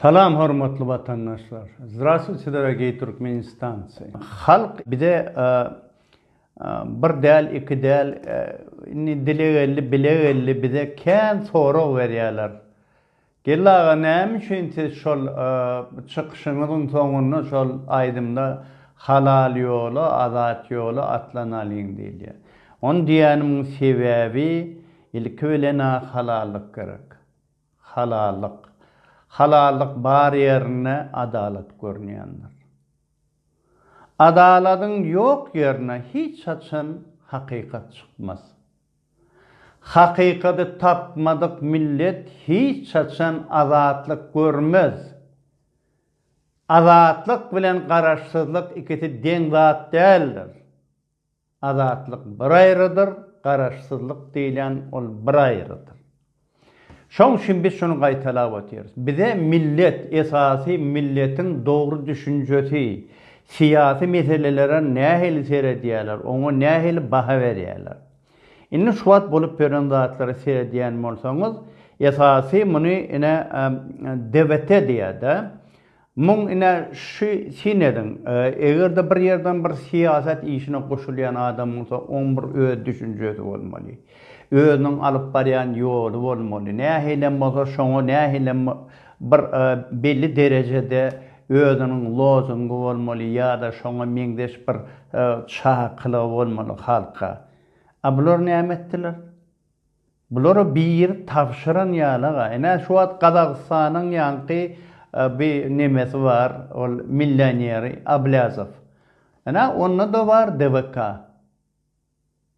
Salam hormatly watandaşlar. Zdrastvuy sizlere gey Türkmenistancy. Halk bize bir däl iki däl indi dile geldi bile geldi bize kän sorag berýäler. Geldi aga näme üçin siz şol çykyşyňyzyň soňunda şol aýdymda halal ýola azat ýola atlanalyň diýilýä. Ony diýänimiň sebäbi ilki bilenä halallyk gerek. Halallyk. Halallyk bar ýerinde adalat görünýändir. Adaladyň ýok ýerine hiç haçan hakykat çykmaz. Hakykady tapmadyk millet hiç haçan azatlyk görmez. Azatlyk bilen garaşsyzlyk ikisi deň zat däldir. Azatlyk bir aýrydyr, garaşsyzlyk diýilýän ol bir aýrydyr. Şoň üçin biz şuny gaýtalap otyrys. Bize millet, esasy milletiň dogry düşünjesi, syýasy meselelere nähili seredýärler, oňa nähili baha berýärler. Indi şu wagt bolup ýören zatlara seredýän bolsaňyz, esasy muny ine DBT diýýär-de, Muň ine şu syn ediň, eger-de bir ýerden bir syýasat işine goşulýan adam bolsa, oň bir öz düşünjesi bolmaly. Özüniň alyp barýan ýoly bolmaly. Nähilem bolsa şoňa nähilem bir belli derejede özüniň lozungy bolmaly ýa-da şoňa meňzeş bir çakylygy bolmaly halka. A bular näme etdiler? Bulara biri tabşyran ýaly-aga. Ine, şu wagt Gazagystanyň ýaňky bi nemesi bar, ol millioneri Ablýazow. Ine, onda-da bar DVK.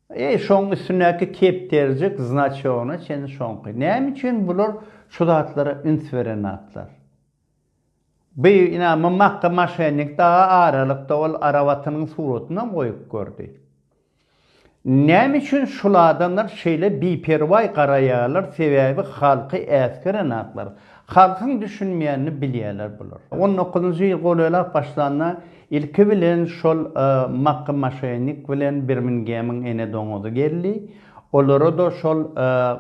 E, şoň üstündäki kepderijik, znaçogyna çenli şoňky. Näme üçin bular şu zatlara üns berenatlar? Beýik ina mym akga maşennik daga aralykda ol arabatynyň suratynam goýup gördi. Näme üçin şul adamlar şeýle biperwaý garaýarlar sebäbi halky äsgerenaklar. Halkyň düşünmeýänini bilýärler bular. On dokuzynjy ýyl golelap başlanda ilki bilen şol makga maşennik bilen birmingemiň ene doňuzy geldi. Olara-da şol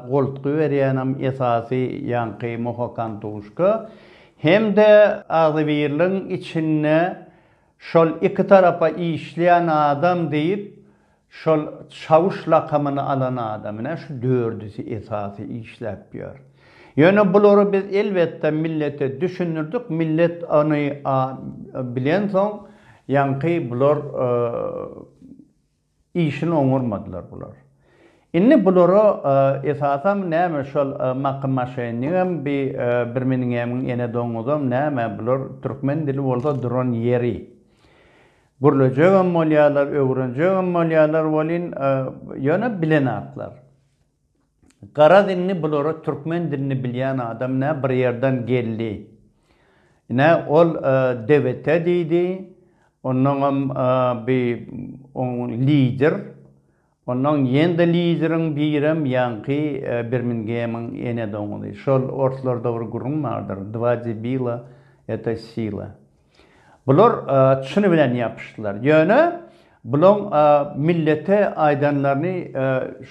goltgy berýänem esasy ýaňky Mohokan-Tuşka hem-de agzybirligiň içinde şol iki tarapa işleýän adam diýip şol Çawuş lakamyny alan adam ine şu dördüsi esasy işläp ýör. Ýöne bulary biz elbetde millete düşündirdik, millet ony bilensoň ýaňky bular Işini oňarmadylar bular. Indi bulara esasam näme şol Maky maşenigem bi bir miniňämiň ene doňuzam näme bular türkmen dili bolsa duran ýeri. Gürlejegem bolýarlar öwrenjegem bolýarlar welin ýöne bilenaklar. Garaz indi bulara türkmen dilini bilýän adam nä bir ýerden geldi. Ine ol DBT diýdi, onnoňam bi oň lider, onnoň ýen-de lideriň birem ýaňky Birmingemiň ene doňuzy. Şol orslarda bir gürrüň bardyr, Dva debila, eta sila. Bular çyny bilen ýapyşdylar. Ýöne bulaň millete aýdanlaryny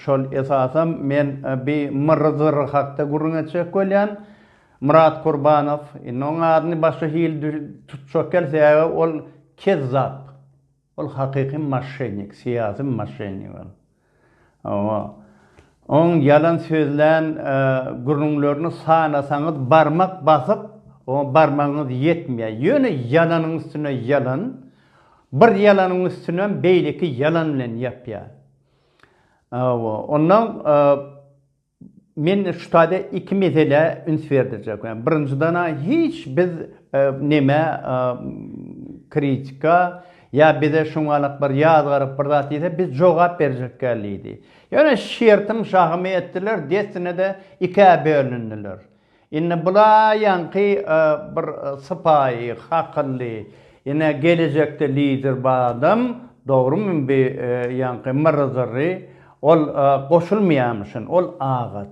şol esasam men bi Myrzyr hakda gürrüň etjek bolýan. Myrat Kurbanow, indi oň adyny başga hili tutjak kel sebäbi ol kezzap. Ol hakyky maşşennik, syýasy maşşennik ol. Hawa. Oň ýalan sözlän gürrüňlerini sanasaňyz barmak basyp, oňa barmagyňyz ýetmeýär. Ýöne ýalanyň üstüne ýalan, bir ýalanyň üstünem beýleki ýalan bilen ýapýar. Hawa, onnoň Men şu taýda iki meselä üns berdirjek. Birinjiden-ä hiç biz neme kritika ýa bize şuňalak bir ýazgaryp bir zat diýse biz jogap berjekgäl diýdi. Ýöne şertim şahymy etdiler, dessine-de ikä bölündiler. Indi bulaýanky bir sypaýy, hakylly, ine gelejekde lider bar adam, dogrymy bi ýanky myrry-zyrry, ol goşulmaýamyşyn, ol agat.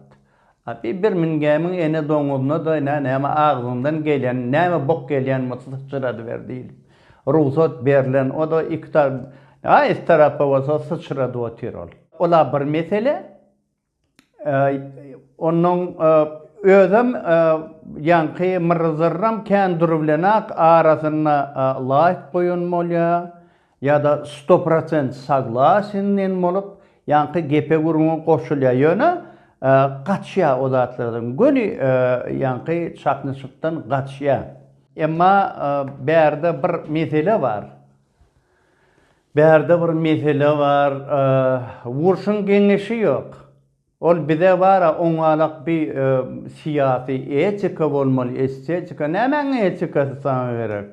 A bi bir mingämiň ene doňuzyna-da ine näme agzyňdan gelýän, näme bok gelýän bolsa syçradyber diýlip, rugsat berlen, o-da iki ta, a is tarapa bolsa syçradyp otyr ol. Ol-a bir mesele, Onuň özem ýaňky myrrzyram kän dury bilenäk arasynda laýk goýan bolýa ýa-da sto prosent saglasin diýen bolup ýaňky gepe gürrüňe goşulýa ýöne gaçýa o zatlardan göni ýaňky çaknyşykdan gaçýa. Emma bärde bir mesele bar. Bärde bir mesele bar urşuň geňeşi ýok ol bize bara oňalak bi syýasy etika bolmaly estetika nämäň etikasy saňa gerek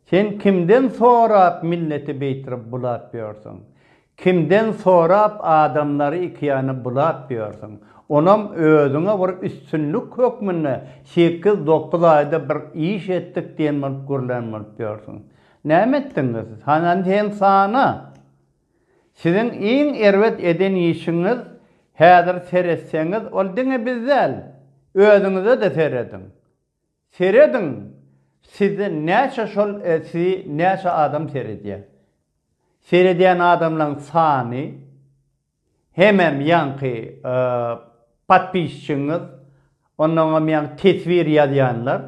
sen kimden sorap milleti beýtrp bulap ýörsüň kimden sorap adamlary iki ýana bulap ýörsüň onam özüňe bir üstünlik hökmünde sekiz dokuz aýda bir iş etdik diýen bolup gürlän bolup ýörsüň Näme etdiňiz? Hana sen sana! Siziň iň erbet eden işiňiz, häzir seretseňiz, ol diňe biz däl, özüňize-de serediň. Serediň, sizi näçe şol sizi näçe adam seredýär. Seredýän adamlaryň sany. Hemem ýaňky podpisçiňiz onnoňam ýaňy teswir ýazýanlar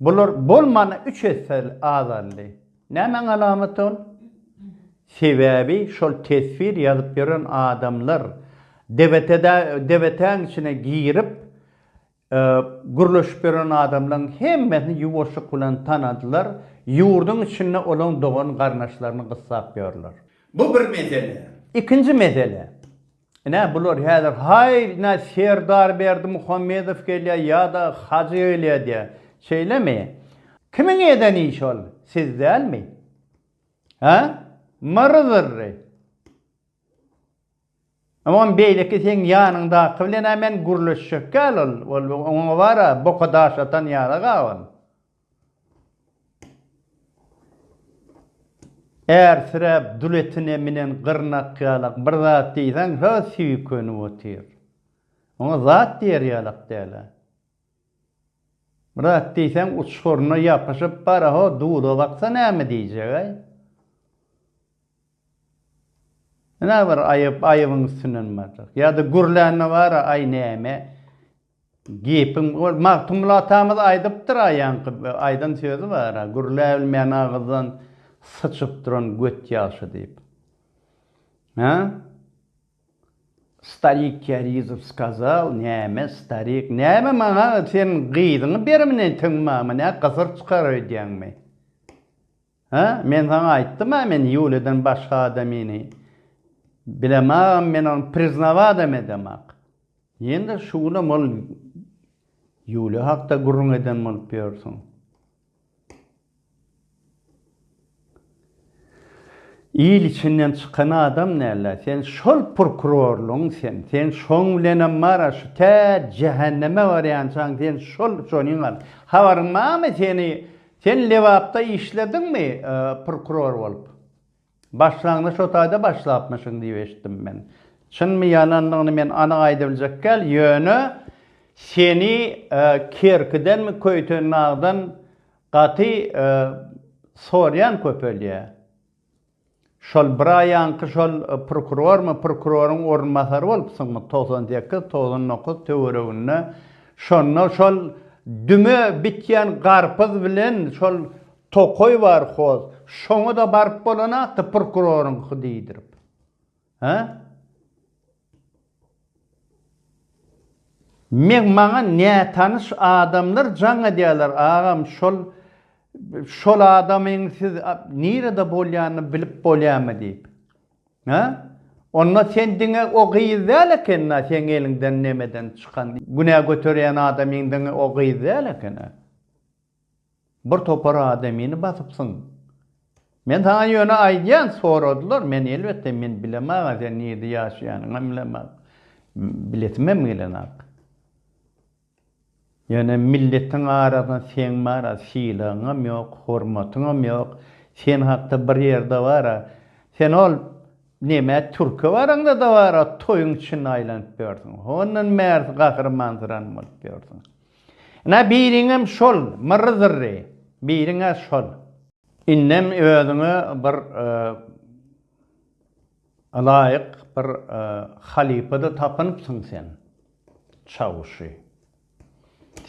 bular bolmana üç esse azaldy. Nämäň alamaty ol? Sebäbi şol teswir ýazyp ýören adamlar debetedä debetäň içine girip Gürleşip ýören adamlaryň hemmesini ýuwaşlyk bilen tanadylar, ýurduň içinde olaň dogan-garyndaşlaryny gyssap ýörler. Bu bir mesele. Ikinji mesele. Ine, bular häzir, Haý, ine, Serdar Berdimuhamedow gelýär ýa-da Hajy gelýär diýýär. Şeýlemi? Kimiň eden işi ol? Siz dälmi? Hä? Myry-zyrry! Oňam beýleki seň ýanyňdaky bilen-ä men gürleşjekgäl ol, ol oňa bar-a, boka daş atan ýaly gaban. Ärsiräp, dul etine minen gyrnak ýalak bir zat diýseň, şo süýkenip otyr. Oňa zat diýer ýalak däl-ä. Bir zat diýseň, uçguryna ýapyşyp bar-a, ho, dula baksa näme diýjeg-äý? Ine bir aýyp aýybyň üstünden barjak. Ýa-da gürlänme bar-a, aý näme gepiň ol Magtymguly atamyz aýdypdyr aýaňky aýdan sözi bar-a, gürläbilmeýän agyzdan syçyp duran göt ýagşy diýip. Hä? Starik Kýarizow skazal, näme starik, näme maňa sen gyzyňy beremini teňmama nä gysyr çykar öýdýäňmi? Hä, men saňa aýtdym-a men Ýuliýadan başga adamyny bilemagam, men ony priznawodam edemok. Ýene-de şu günem ol Ýuliýa hakda gürrüň eden bolup ýörsüň. Il içinden çykan adam näl-ä sen, şol prokurorlygyň sen, sen şoň bilenem bar-a şu tä jähenneme barýançaň sen şol şonyň al. Habaryň barmy seni Sen Lebapda işlediňmi prokuror bolup? Başlangyç o taýda başlapmyşyň diýip eşitdim men. Çynmy ýalandygyny men anyk aýdybiljek däl, ýöne seni Kerkidenmi, Köýtendagdan gaty soraýan köpelýär. Şol bir aýaňky şol prokurormy, prokuroryň orunbasary bolupsyňmy togsan sekiz, togsan dokuz töwereginde, şonda şol düme bitýän garpyz bilen şol tokaý bar hoz, şoňa-da baryp bolanakdy prokuroryňky diýdirip. Hä? Meň maňa nätanyş adamlar jaň edýärler agam şol şol adamyň siz nirede bolýanyny bilip bolýamy diýip. Hä? Onda sen diňe o gyz däl ekeni-ä seň eliňden nemeden çykan günä göterýän adamyň diňe o gyz däl ekeni. Bir topar adamyny basypsyň. Men saňa ýöne aýdýan, soradylar, men elbetde men bilemag-a sen nirde ýaşaýanyňam bilemag. Bilesimem gelenok. Ýöne milletiň arasynda seň bar-a, sylagyňam ýok, hormatyňam ýok. Sen hakda bir ýerde bar-a, sen ol neme türke baraňda-da bar-a, toýuň içinde aýlanyp ýörsüň. Hondan bärsi gahrymansyran bolup ýörsüň. Ine, biriňem şol, myrry-zyrry, biriň-ä şol. Indem özüňe bir ylaýyk bir halypa-da tapynypsyň sen, Çawuşy.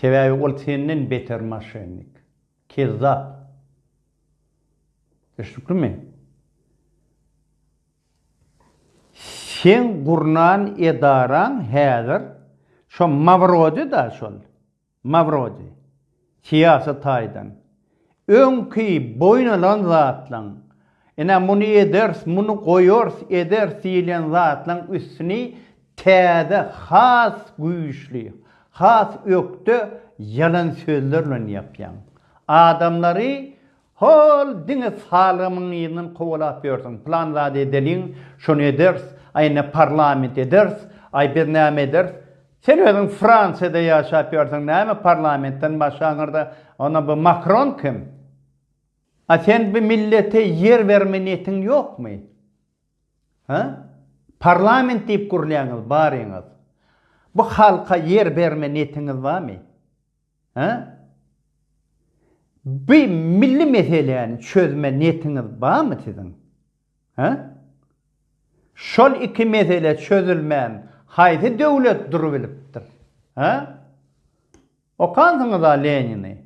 Sebäbi ol senden beter moşennik, kezzap. Düşnüklimi? Seň gurnan edaraň häzir şo Mawrodi da şol Mawrodi syýasy taýdan öňki boýun alan zatlaň ine muny ederis muny goýarys ederis diýilýän zatlaň üstüni täze has güýçli has ökde ýalan sözler bilen ýapýaň adamlary Hol, diňe salgymyň yzyndan kowalap ýörsüň, plan zady edeliň, şony ederis, aý indi parlament ederis, aý biz näme ederis? Sen özüň Fransiýada ýaşap ýörsiň, näme parlamentden başgaňyrda, onda bu Makron kim? A sen bu millete ýer berme niýetiň ýokmy? Hä? Parlament diýip gürlýäňiz baryňyz. Bu halka ýer berme niýetiňiz barmy? Hä? Bi milli meseläni çözme netiňiz bamy siziň? Hä? Şol iki mesele çözülmän haýsy döwlet durubilipdir? Hä? Okansyňyz-a Lenini?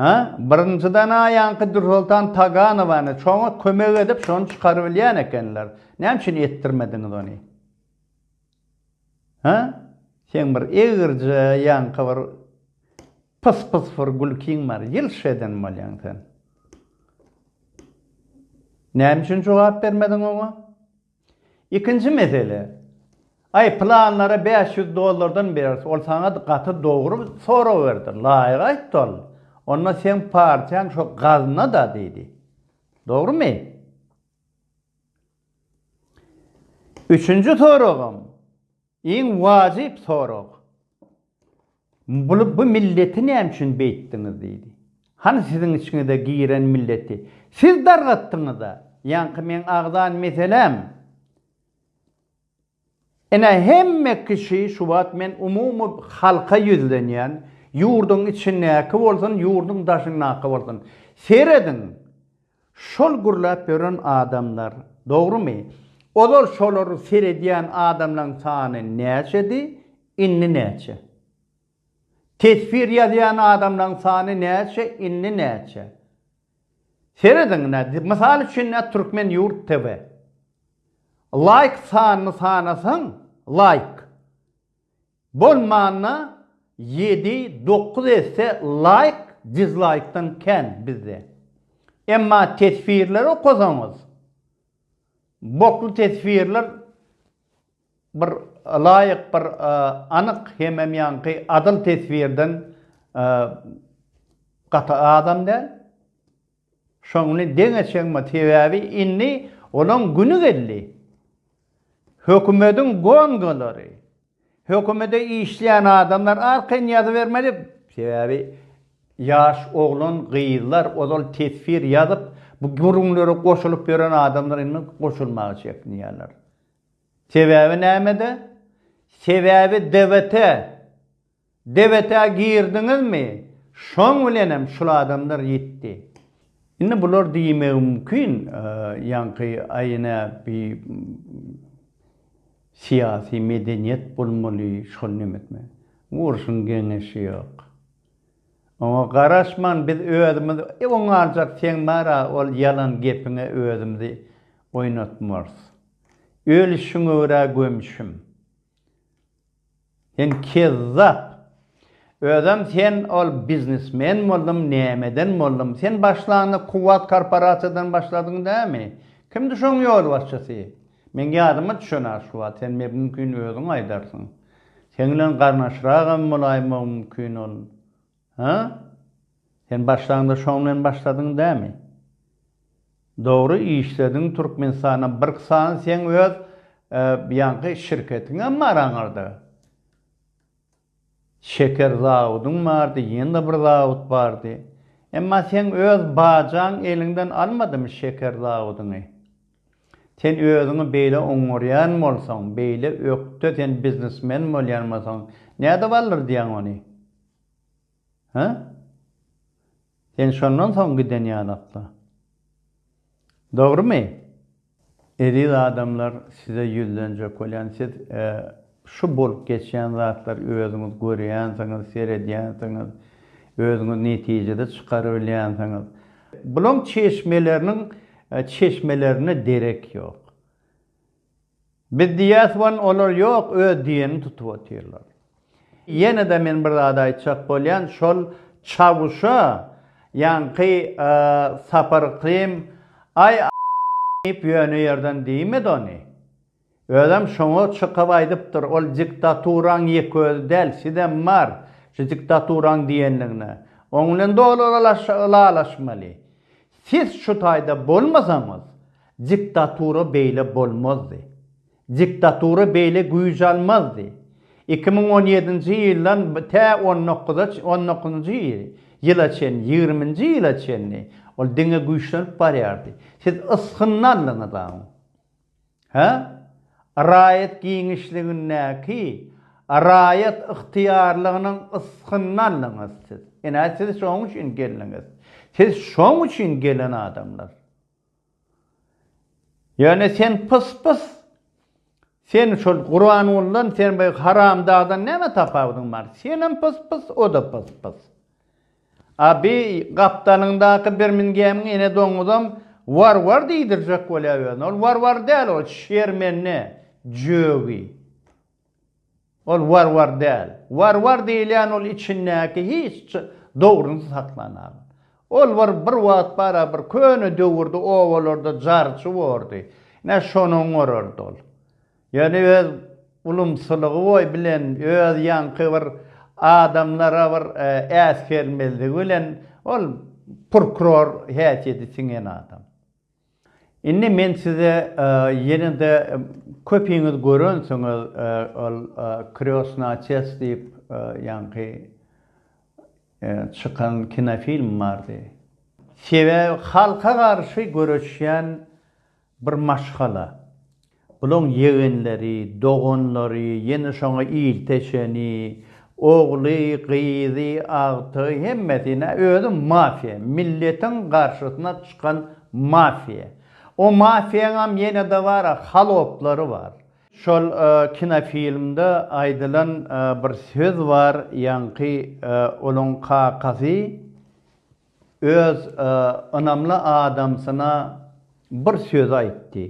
Hä, birinjiden a ýaňky Dürsoltan Taganowany şoňa kömek edip şony çykarybilýän ekenler. Näme üçin etdirmediňiz ony? Hä? Seň bir egirje ýaňky bir pys pys bir gülkiň bar. Ýylş eden bolýaň sen. Näme üçin jogap bermediň oňa? Ikinji mesele, Aý, pylanlara bäş ýüz dollardan bereris, ol saňa gaty dogry sorag berdi, laýyk aýtdy ol. Onda seň partiýaň şo gazna-da diýdi. Dogrumy? Üçünji soragym. Iň wajyp sorag, bu milleti näme üçin beýtdiňiz diýdi. Hany siziň içiňize giren milleti siz dargatdyňyz-a. Ýaňky meň agzan meseläm, ine hemme kişi, şu wagt men umumy halka ýüzlenýän, ýurduň içindäki bolsun, ýurduň daşyndaky bolsun, serediň, Şol gürläp ýören adamlar dogrumy? Ozal şolary seredýän adamlaň sany näçedi, indi näçe? Teswir ýazýan adamlaň sany näçe, indi näçe? Serediň nä, mysal üçin nä Türkmen ýurt TV. Laýk sanyny sanasaň, laýk. Bolmanda ýedi dokuz esse laýk dizlaýkdan kän bizde. Emma teswirleri okasaňyz bokly teswirler bir laýk bir anyk hemem ýaňky adyl teswirden gaty azam däl. Şony deň eçeňmi sebäbi indi olaň güni geldi. Hökümediň gongalary, hökümede işleýän adamlar arkaýyn ýazybermeli sebäbi ýaş oglan gyzlar ozal teswir ýazyp bu gürrüňlere goşulyp ýören adamlar indi goşulmaga çekinýärler. Sebäbi nämede? Sebäbi DWT. Debete girdiňizmi? Şoň bilenem şul adamlar ýitdi. Indi bular diýmegi mümkin, ýaňky aýy nä bi syýasy medeniýet bolmaly, şol nemetme. Urşuň geňeşi ýok. Oňa garaşman biz özümiz oň aljak seň bara ol ýalan gepiňe özümizi oýnatmarys. Öl şüňe görä gömşüm. Sen kezzap. Özem sen ol biznesmen boldum nämeden boldum sen başlanda kuwwat korporasiýadan başladyň dämi? Kimdi şoň ýolbaşçysy? Meň ýadyma düşenä şu wagt sen me mümkin özüň aýdarsyň. Seň bilen garnaşragam bolaýmagym mümkin ol. Hä? Sen başlanda şoň bilen başladyň dämi? Dogry işlediň Türkmenistana birk sany seň öz ýaňky şirketiňem bar aňyrda. Şeker zawudyň bardy ýene-de bir zawut bardy. Emma seň öz bajaň eliňden almadymy şeker zawudyňy? Sen özüňi beýle oňňurýan bolsaň, beýle ökde sen biznesmen bolýan bolsaň nädip aldyrdyýaň ony? Hä? Sen şondan soň giden ýalakda. Dogrumy? Eziz adamlar, size ýüzlenjek bolýan. Siz şu bolup geçýän zatlary özüňiz görýänsiňiz, seredýänsiňiz, özüňiz netijede çykarybilýänsiňiz. Bulaň çeşmeleriniň çeşmelerine derek ýok. Biz diýýäs wan olar ýok öz diýenini tutup otyrlar. Ýenede men bir zat aýtjak bolýan şol Çawuşa ýaňky Sapar Krim aý diýip ýöne ýerden diýmedi ony. Özem şoňa çykyp aýdypdyr ol diktaturaň ýeke özi däl sizem bar şu diktaturaň diýenligine. Oň bilen doly ylalaşmaly. Siz şu taýda bolmasaňyz, diktatura beýle bolmazdy. Diktatura beýle güýç almazdy. Iki müň on ýedinji ýyldan tä on dokuza on dokuzynjy ýyla çenli, ýigriminji ýyla çenli ol diňe güýçlenip barýardy. Siz ysgyny aldyňyz aň. Hä? Raýat giňişligindäki raýat ygtyýarlygynyň ysgynny aldyňyz siz. Ine, siz şoň üçin geldiňiz. Siz şoň üçin gelen adamlar. Ýöne sen pys-pys. Sen şol Guranguldan, sen bu haramdagdan näme tapawudyň bar? Senem pys-pys, o-da pys-pys. Abi, gapdalyňdaky Birmingemiň ene doňuzam Warwar diýdirjek bolýa özüne. Ol Warwar däl ol, Şermenne, jögi. Ol Warwar däl. Warwar diýilýän ol içindäki hiç dogryny saklanagan. Ol bir bir wagt bara bir köne döwürde obalarda jarçy bordy. Ine şonuň gorardy ol. Ýöne öz ulumsylygy boy bilen öz ýaňky bir adamlara bir äsgermezligi bilen ol purkror häsiýeti siňen adam. Indi men size ýene-de köpiňiz görensiňiz ol Krýosna çest diýip ýaňky çykan kinofilm bardy. Sebäbi halka garşy göreşýän Bir maşgala. Bulaň ýegenleri, doganlary, ýene şoňa ilteşeni, ogly, gyzy, agtygy, hemmesi, ine, özi mafiýa, milletiň garşysyna çykan mafiýa. O mafiýaňam ýene-de bar-a, haloplary bar. Şol kinofilmde aýdylan bir söz bar, ýaňky olaň kakasy Öz ynamly adamsyna bir söz aýtdy.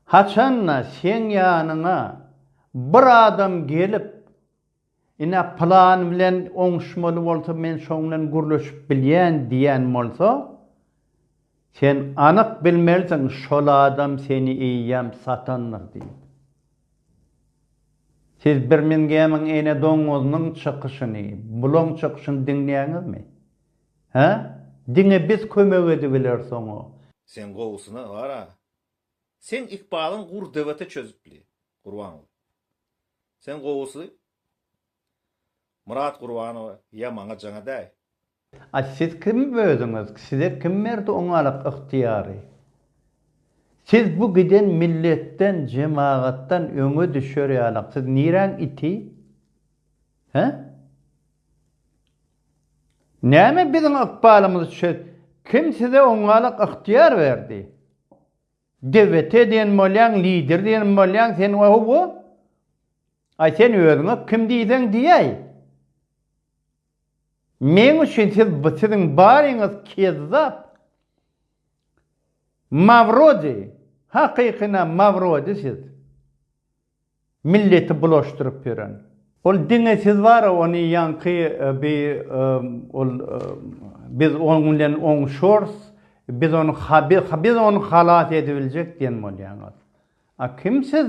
Haçan-da seň ýanyňa bir adam gelip, Ine, pylan bilen oňuşmaly bolsa, men şoň bilen gürleşip bilýän diýen bolsa, Sen anyk bilmelisiň şol adam seni eýýäm satandyr diýip. Siz Birmingemiň ene doňňuzynyň çykyşyny, bulaň çykyşyny diňleýäňizmi? Hä? Diňe biz kömek edibileris oňa. Sen gowusyna bar-a. Seň ykbalyň gurr dewete çözüpli. Gurban boluň. Sen gowusy Myrat Gurbanowa ýa maňa jaňa däý. A siz kim özüňiz? Size kim berdi oňalyk ygtyýary? Siz bu giden milletden, jemagatdan öňe düşer ýalyk. Siz niräň iti? Hä? Näme biziň ykbalymyzy çöz. Kim size oňalyk ygtyýar berdi? Dewete diýen bolýaň, lider diýen bolýaň, sen oho-wo! Aý sen özüňe kim diýseň diýäý. Meň üçin siz bu siziň baryňyz kezzap. Mawrodi, hakykyna mawrodi siz. Milleti bulaşdyryp ýören. Ol diňe siz bara ony ýaňky bi ol biz oň bilen oňuşors biz ony biz ony halas edibiljek diýen bolýaňyz. A kim siz?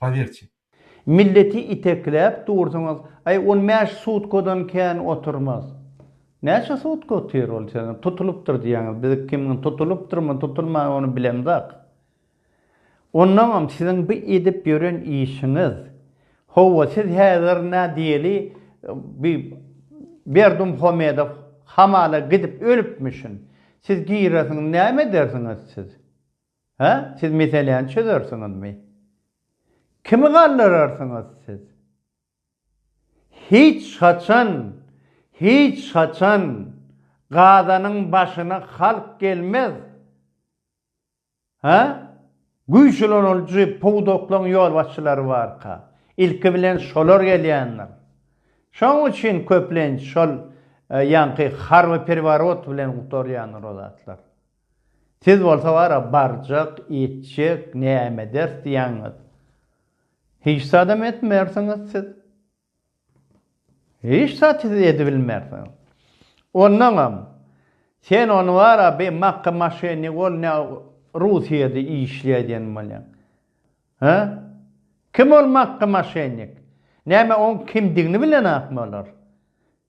Powiertye. Milleti itekläp dursuňyz, aý on bäş sutkadan kän oturmaz. Näçe sutka otyr ol sene? Tutulypdyr diýýäňiz, biz kim tutulypdyrmy, tutulman ony bilemzok. Ondaňam siziň bu edip ýören işiňiz. Howwa siz häzir nä diýeli bi Berdimuhamedow hamala gidip ölüpmişin. Siz giresiňiz näme edersiňiz siz? Hä, siz meseläni çözersiňizmi? Kimi galdyrarsyňyz siz? Hiç haçan, hiç haçan Gazanyň başyna halk gelmez! Hä? Güýçüleniljy pudaklaryň ýolbaşçylary barka, ilki bilen şolar gelýändir. Şonuň üçin köplenç şol ýaňky harby perworot bilen gutarýandyr o zatlar. Siz bolsa bara barjak, iýtjek, näme ederis diýýäňiz? Hiç zadam etmersiňiz siz. Hiç zat siz edibilmersiňiz. Ondaňam, sen ony bara bir makka maşennik bol, ne Russiýada işleýär diýen bolýaň. Hä? Kim ol makka maşennik? Näme oň kimdigini bilenokmy olar?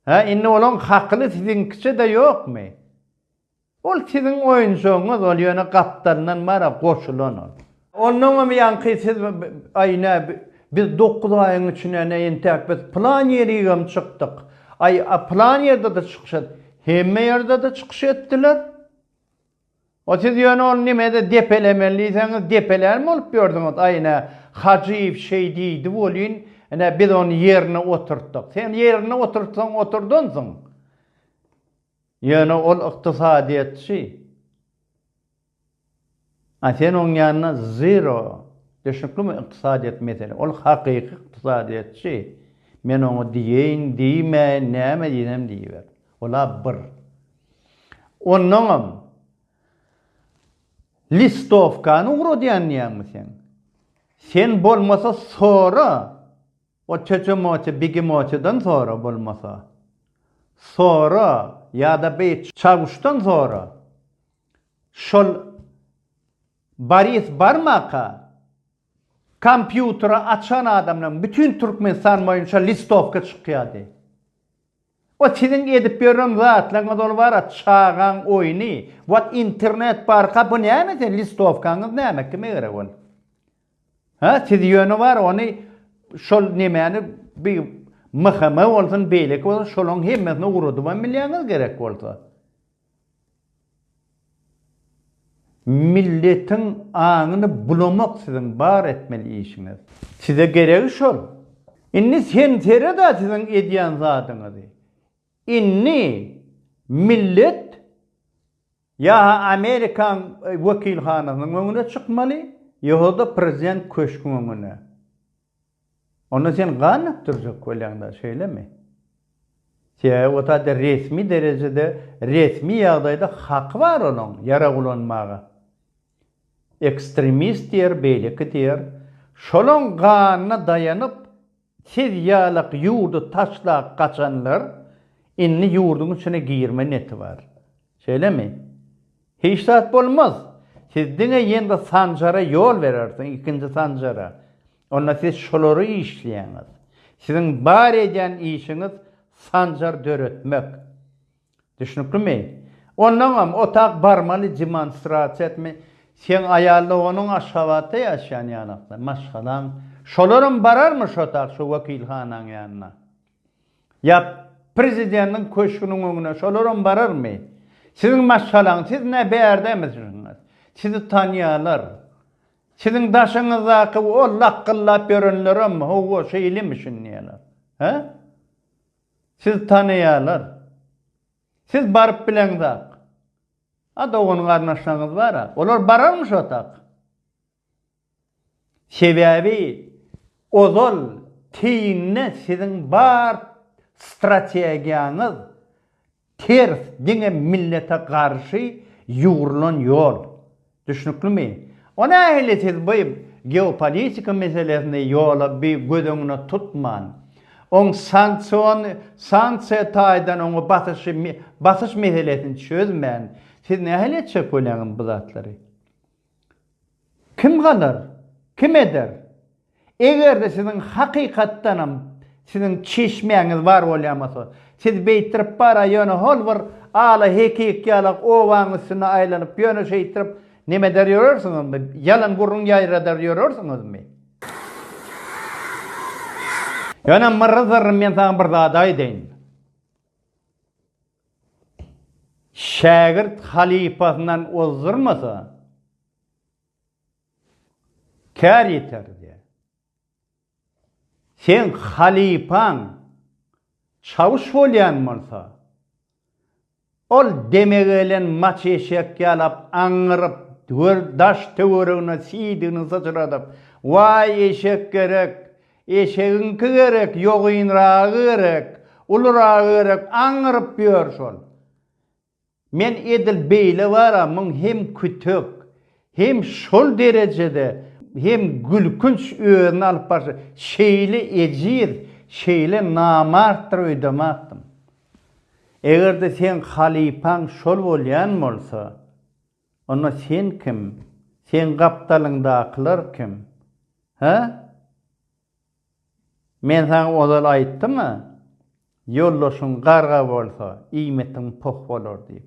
Hä, indi olaň hakyly siziňkiçe-de ýokmy? Ol siziň oýunjagyňyz ol ýöne gapdalyndan bara goşulan ol. Onnoňam ýaňky siz aý nä biz dokuz aýyň içinde nä entäk biz plan ýerigem çykdyk aý a plan ýerdede çykyş et hemme ýerdede çykyş etdiler o siz ýöne ol nimede depelemeli diýseňiz depelän bolup ýördüňiz aý nä Hajyýew şeý diýdi welin nä biz ony ýerine oturtdyk sen ýerine oturtsaň oturdynsyň Ýöne ol ykdysadyýetçi. A sen oň ýanyna zero. Düşnüklimi ykdysadyýet mesele. Ol hakyky ykdysadyýetçi. Men oňa diýeýin, diýmäýin, näme diýsem diýiber. Ol-a bir. Onnoňam listowkany ugradýan diýýäňmi sen? Sen bolmasa sora. O tötemoti bigimotidan sora bolmasa sora ýada beý çawuşdan sora şol Boris barmaka kompýuteri açan adamdan bütin türkmenistan boýunça listowka çykýady O siziň edip ýören zatlaryňyz ol bara çagaň oýny. Wat internet barka bu näme sen listowkaňyz näme kime gerek ol. Hä siz ýöne bar ony şol nemäni bi MHM bolsun beýleki bolsun şolaryň hemmesini ugradybam bilýäňiz gerek bolsa. Milletiň aňyny bulamak siziň bar etmeli işiňiz. Size geregi şol. Indi sen sered-ä siziň edýän zadyňyzy. Indi millet ýa-ha Amerikaň wekilhanasynyň öňüne çykmaly, ýohada prezident köşgüň öňüne. Onda sen gan akdyrjak bolýaňda, şeýlemi? Sebäbi o taýda resmi derejede, resmi ýagdaýda haky bar onuň ýarag ulanmaga. Ekstremist diýer, beýleki diýer. Şolaň ganyna daýanyp, siz ýalak ýurdy taşlap gaçanlar indi ýurduň içine girme neti bar. Şeýlemi? Hiç zat bolmaz. Siz diňe ýeňňe Sanjara ýol berersiň, ikinji Sanjara. Onda siz şolary işleýäňiz. Siziň bar edýän işiňiz Sanjar döretmek. Düşnüklimi? Ondaňam otag barmaly demonstrasiýa etme. Seň aýal doganyň Aşgabatda ýaşaýan ýanakda, maşgalaň. Şolaram bararmy şo otag, şo wekilhanaň ýanyna? Ýap, prezidentiň köşgüniň öňüne şolaram bararmy? Siziň maşgalaň, siz nä bärdemisiniňiz? Sizi tanýarlar. Siziň daşyňyzdaky o lakgyllap ýörenlerem, Hawa, şeýlemişin diýerler. Hä? Sizi tanaýarlar. Siz baryp bileňzak. A dogan-garyndaşlaryňyz bar-a. Olar bararmy şo tak? Sebäbi ozal teýinde siziň bar strategiýaňyz ters diňe millete garşy ýugrulan ýol. Düşnüklimi? O nähili siz bu geopolitika meselesini ýola bi göz öňüne tutman, oň sanksion sanksiýa taýdan oňa basyşy basyş meselesini çözmän siz nähili etjek bolýaňyz bu zatlary? Kim galar? Kim eder? Eger-de siziň hakykatdanam siziň çeşmäňiz bar bolýamasa, siz beýtirip bara ýöne hol bir ala hekik ýalak obaň üstünde aýlanyp ýöne şeýtirip neme eder ýörersiňizmi? Ýalan gürrüň ýaýradar ýörersiňizmi? Ýöne Myrry Zyrry men saňa bir zat aýdaýyn. Şägirt halypasyndan ozdurmasa, kär ýeter diýýär. Seň halypaň çawuş bolýan bolsa, ol deme gelen maç eşek ýalap aňňyryp, daş-töweregine siýdigini syçradyp, Waý, eşek gerek, Eşegiňki gerek, ýogynragy gerek, uluryragy gerek aňňyryp ýör şol. Men edil beýle bar-a muň hem kütek, hem şol derejede hem gülkünç özüni alyp barşy, şeýle ejiz, şeýle namartdyr öýdemakdym. Eger-de seň halypaň şol bolýan bolsa. Onda sen kim? Seň gapdalyňdakylar kim? Hä? Men saňa ozal aýtdym-a, ýoldaşyň garga bolsa, iýmitiň poh bolar diýip.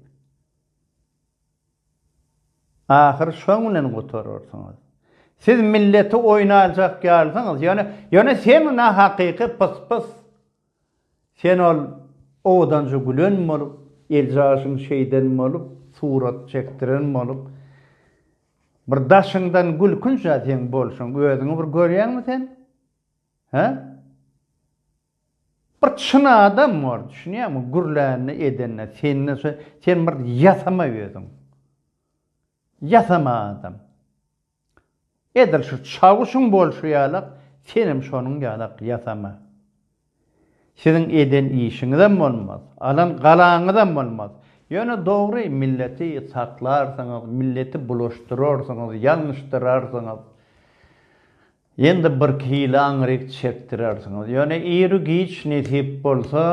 Ahyr şoň bilen gutararsyňyz. Siz milleti oýun aljak ýalysyňyz, ýöne, ýöne sen nahakyky pys-pys. Sen ol owadanja gülen bolup, eljaşyň şeýden bolup, surat çekdiren bolup, bir daşyňdan gülkünç-ä seň bolşuň. Özüňi bir görýäňmi sen? Hä? Bir çyn adam bol, düşünýäňmi? Gürlände, edende, sende şo, sen bir ýasama özüň. Ýasama adam. Edil şu çawuşyň bolşy ýalak senem şonuň ýalak ýasama. Siziň eden işiňizem bolmaz, alan galaňyzam bolmaz. Ýöne dogry milleti saklarsyňyz, milleti bulaşdyrarsyňyz, ýalňyşdyrarsyňyz. Ýende bir hili aňryk çekdirersiňiz. Ýöne iri-giç nesip bolsa.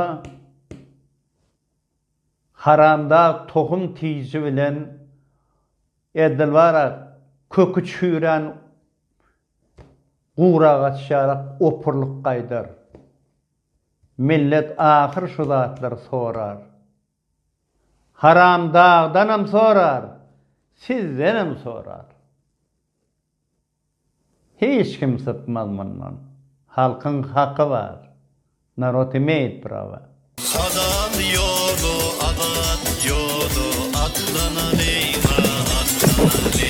Haramdag tohum tiji bilen Edilbarak köki çüýrän guragaç ýalak opurlyk gaýdar. Millet ahyr şu zatlary sorar. Haramdagdanam sorar, sizdenem sorar. Hiç kim sypmaz mundan. Halkyň haky bar. Narod imeýt prawa. Adam ýoly abat ýoly atlanalyň a atlanalyň.